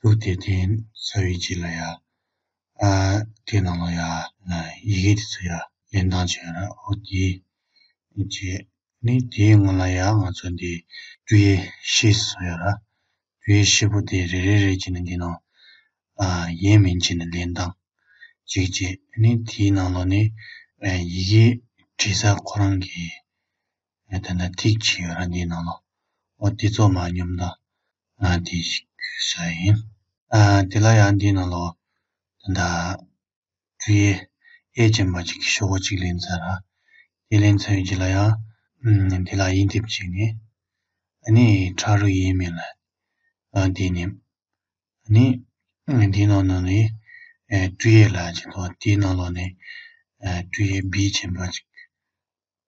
ལུགས་དེ་དེ་ས་བའི་རྗེས་ལ་ཡ། དེ་ནང་ལ་ཡ། ཡི་གེ་དེ་ཚོ་ཡ། ལེན་སྟངས་བྱས་ན་ཨོ་དེ། རྗེས་ནི་དེའི་སྔོན་ལ་ཡ་ང་ཚོ་འདི། དུ་ཡེ་ཤེས་སོགས་ཡོད་ར། དུ་ཡེ་ཤེས་པོ་དེ་རེ་རེ་རེ་གྱིས་ནི་འདི་ནང། ཡིན་མིན་གྱིས་ནི་ལེན་སྟངས། གཅིག་རྗེས་ནི་དེའི་ནང་ལ་ནི། ཡི་གེའི་བྲིས་ས་ཁོ་རང་གི། ངས་དེ་འདྲ་ཐིག་ཆེ་ཡོད་ར་འདིའི་ནང་ལོ་འོ་དེ་ཚོ་མ་སྙོམ་ད་ང་དེ་ཞིག་བརྒྱུད་ས་ཡིན་དེ་ལ་ཡང་འདིའི་ནང་ལོ་དེ་འདྲ་འབྲུ་ཡེ་ཨེ་ཅན་པ་ཅིག་གི་ཤོག་བུ་ཅིག་ལེན་ཚར་ར་དེ་ལེན་ཚར་ཡོད་ཅིག་ལ་ཡང་དེ་ལ་དབྱིན་དེབ་ཅིག་ནི་ཨ་ནི་ཁྲ་རུ་ཡེ་མེད་ལ་ཨ་དེ་ནི་ཨ་ནི་འདིའི་ནང་ནང་ནི་འབྲུ་ཡེ་ལ་ཅིག་ཏོ་དེའི་ནང་ལོ་ནི་འབྲུ་ཡེ་བི་ཅན་པ་ཅིག་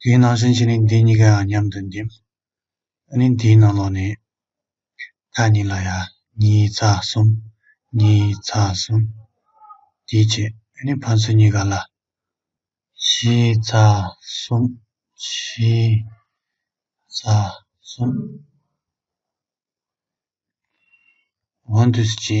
དེའི་ནང་སེམས་ཞེས་ནི་འདི་གཉིས་ཀའང་མཉམ་དུ་འདེམ། ནི་འདིའི་ནང་ལོགས་ནི། ཁ་གཉིས་ལ་ཡ། གཉིས་རྩ་གསུམ། གཉིས་རྩ་གསུམ། དེའི་ཕྱེད། ནི་ཕ་མཚོན་གཉིས་ཀ་ལ། བཞི་རྩ་གསུམ། བཞི་རྩ་གསུམ། འོན་ཏུ་སྤྱི།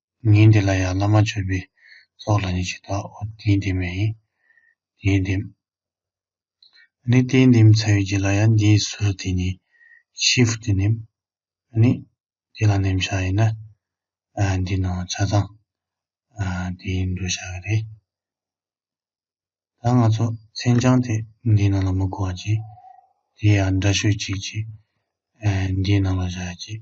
ཉིན་དེ་ལ་ཡང་བླ་མ་མཆོད་པའི་ཚོགས་ལ་ནི་ཇི་ལྟར་འོ་དེའི་འདེམས་མ་ཡིན། དེའི་འདེམས། ནི་དེའི་འདེམས་ཚ་བའི་རྗེས་ལ་ཡང་འདིའི་གཟུ་རུ་དེ་ནི་ཤེས་བུ་དེ་འདེམས། ནི་དེ་ལ་འདེམས་བྱ་ཡིན་ན། འདི་ནི་འོ་ཚ་དང། དེའི་འདུ་བྱ་ག་རེ། ད་ང་ཚོ་མཚན་བྱང་དེ་འདིའི་ནང་ལ་མི་གོ་བར་གྱིས། དེ་ཡང་འདྲ་ཤོས་གཅིག་གིས། འདིའི་ནང་ལ་བཞག་གྱིས།